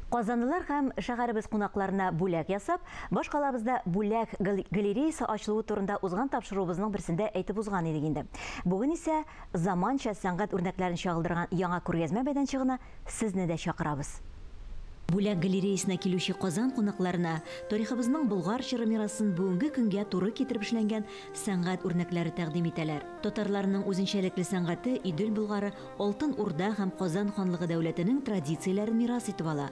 Казанлылар һәм шәһәребез кунакларына бүләк ясап, башкалабызда бүләк галереясы ачылуы турында узган тапшыруыбызның берсендә әйтеп узган идек инде. Бүген исә заманча сәнгать үрнәкләрен чагылдырган яңа күргәзмә мәйданчыгына сезне дә чакырабыз. Бүләк галереясына килүче Казан кунакларына тарихыбызның Болгар чоры мирасын бүгенге көнгә туры китереп эшләнгән сәнгать үрнәкләре тәкъдим итәләр. Татарларның үзенчәлекле сәнгате Идел Болгары Алтын Урда һәм Казан ханлыгы дәүләтенең традицияләрен мирас итеп ала.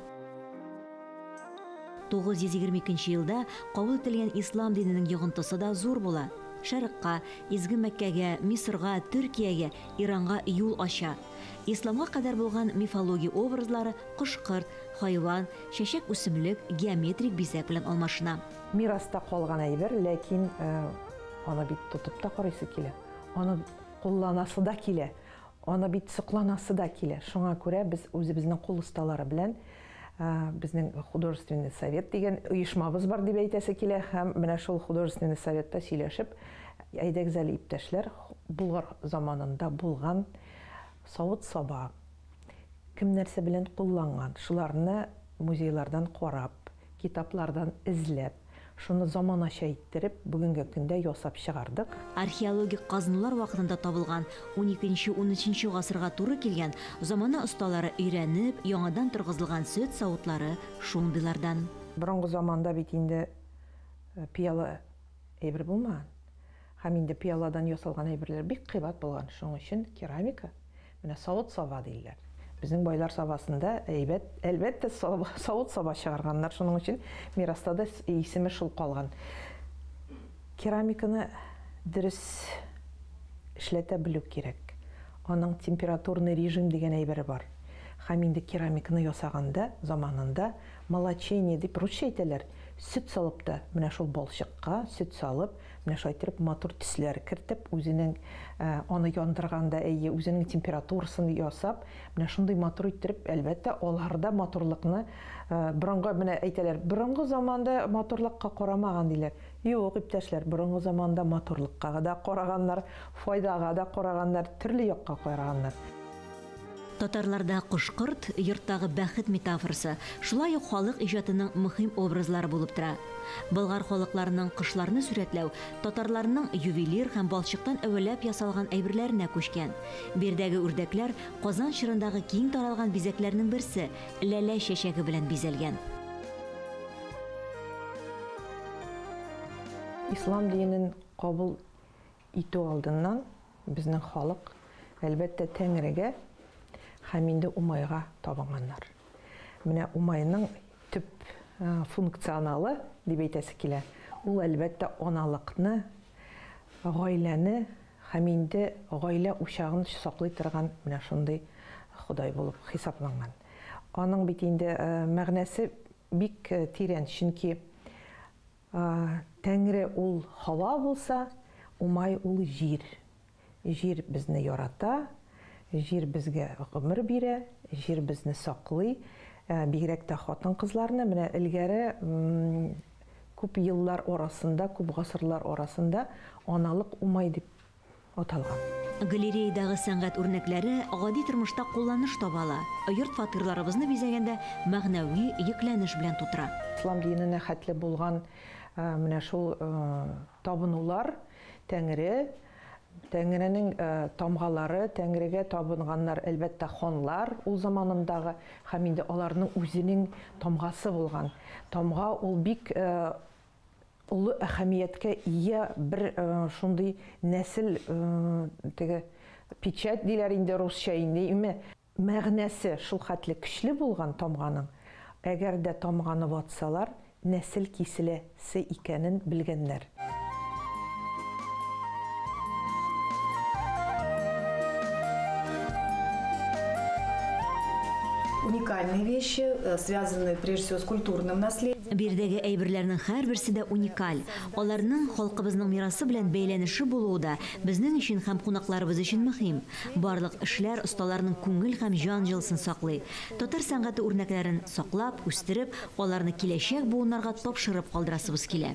922 елда кабул ителгән ислам диненең йогынтысы да зур була. Шәрыкка, Изге Мәккәгә, Мисырга, Төркиягә, Иранга юл ача. Исламга кадәр булган мифология образлары кош-корт, хайван, чәчәк-үсемлек, геометрик бизәк белән алмашына. Мираста калган әйбер, ләкин аны бит тотып та карыйсы килә, аны кулланасы да килә. Аны бит сокланасы да килә. Шуңа күрә без үзебезнең кул осталары белән безнең художественный совет дигән оешмабыз бар дип әйтәсе килә һәм менә шул художественный советта сөйләшеп, әйдәгез әле, иптәшләр, Болгар заманында булган савыт-саба, кем нәрсә белән кулланган, шуларны музейлардан карап, Китаплардан эзләп, шуны заманача иттереп, бүгенге көндә ясап чыгардык. Археологик казынулар вакытында табылган, уникенче-унөченче гасырга туры килгән, замана осталары өйрәнеп, яңадан торгызылган сөт савытлары шундыйлардан. Борынгы заманда бит инде пыяла әйбер булмаган. Һәм инде пыяладан ясалган әйберләр бик кыйбат булган, шуның өчен керамика Менә савыт-саба диләр. Безнең байлар сабасында әйбәт, әлбәттә, савыт-саба чыгарганнар, шуның өчен мираста да исеме шул калган. Керамиканы дөрес эшләтә белү кирәк. Аның температурный режим дигән әйбере бар. Хәм инде керамиканы ясаганда, заманында молочение дип, русча әйтәләр, сөт салып та, менә шул балчыкка сөт салып, Менә шулай иттереп матур төсләр кертеп, үзенең аны яндырганда, әйе, үзенең температурасын ясап, менә шундый матур иттереп, әлбәттә, аларда матурлыкны борынгы, менә әйтәләр, борынгы заманда матурлыкка карамаган диләр. Юк, иптәшләр, борынгы заманда матурлыкка да караганнар, файдага да караганнар, төрле якка караганнар. Татарларда кош-корт, йорттагы бәхет метафорасы, шулай ук халык иҗатының мөһим образлары булып тора. Болгар халыкларының кошларны сурәтләү татарларның ювелир һәм балчыктан әвәләп ясалган әйберләренә күчкән. Биредәге үрдәкләр Казан чорындагы киң таралган бизәкләрнең берсе, ләлә чәчәге белән бизәлгән. Ислам динен кабул итү алдыннан безнең халык, әлбәттә, Тәңрегә һәм инде Умайга табынганнар. Менә Умайның төп функционалы, дип әйтәсе килә, ул, әлбәттә, аналыкны, гаиләне һәм инде гаилә учагын саклый торган менә шундый ходай булып хисапланган. Аның бит инде мәгънәсе бик тирән, чөнки А, Тәңре ул һава булса, Умай ул җир. Җир безне ярата, җир безгә гомер бирә, җир безне саклый. Бигрәк тә хатын-кызларны, менә элгәре күп еллар арасында, күп гасырлар арасында аналык умай дип аталган. Галереядагы сәнгать үрнәкләре гади тормышта кулланыш таба ала, йорт-фатирларыбызны бизәгәндә мәгънәви йөкләнеш белән тутыра. Ислам диненә хәтле булган менә шул табынулар, Тәңре, Тәңренең тамгалары, Тәңрегә табынганнар, әлбәттә, ханлар ул заманындагы һәм инде аларның үзенең тамгасы булган. Тамга ул бик олы әһәмияткә ия бер шундый нәсел теге печать диләр инде русча инде име мәгънәсе шул хәтле көчле булган тамганың, әгәр дә тамганы ватсалар, нәсел киселәсе икәнен белгәннәр. уникальные вещи, э, связанные прежде всего с культурным наследием. Бирдәге әйберләрнең һәрберсе дә уникаль. Аларның халкыбызның мирасы белән бәйләнеше булуы да безнең өчен һәм кунакларыбыз өчен мөһим. Барлык эшләр осталарның күңел һәм җан җылысын саклый. Татар сәнгате үрнәкләрен саклап, үстереп, аларны киләчәк буыннарга тапшырып калдырасыбыз килә.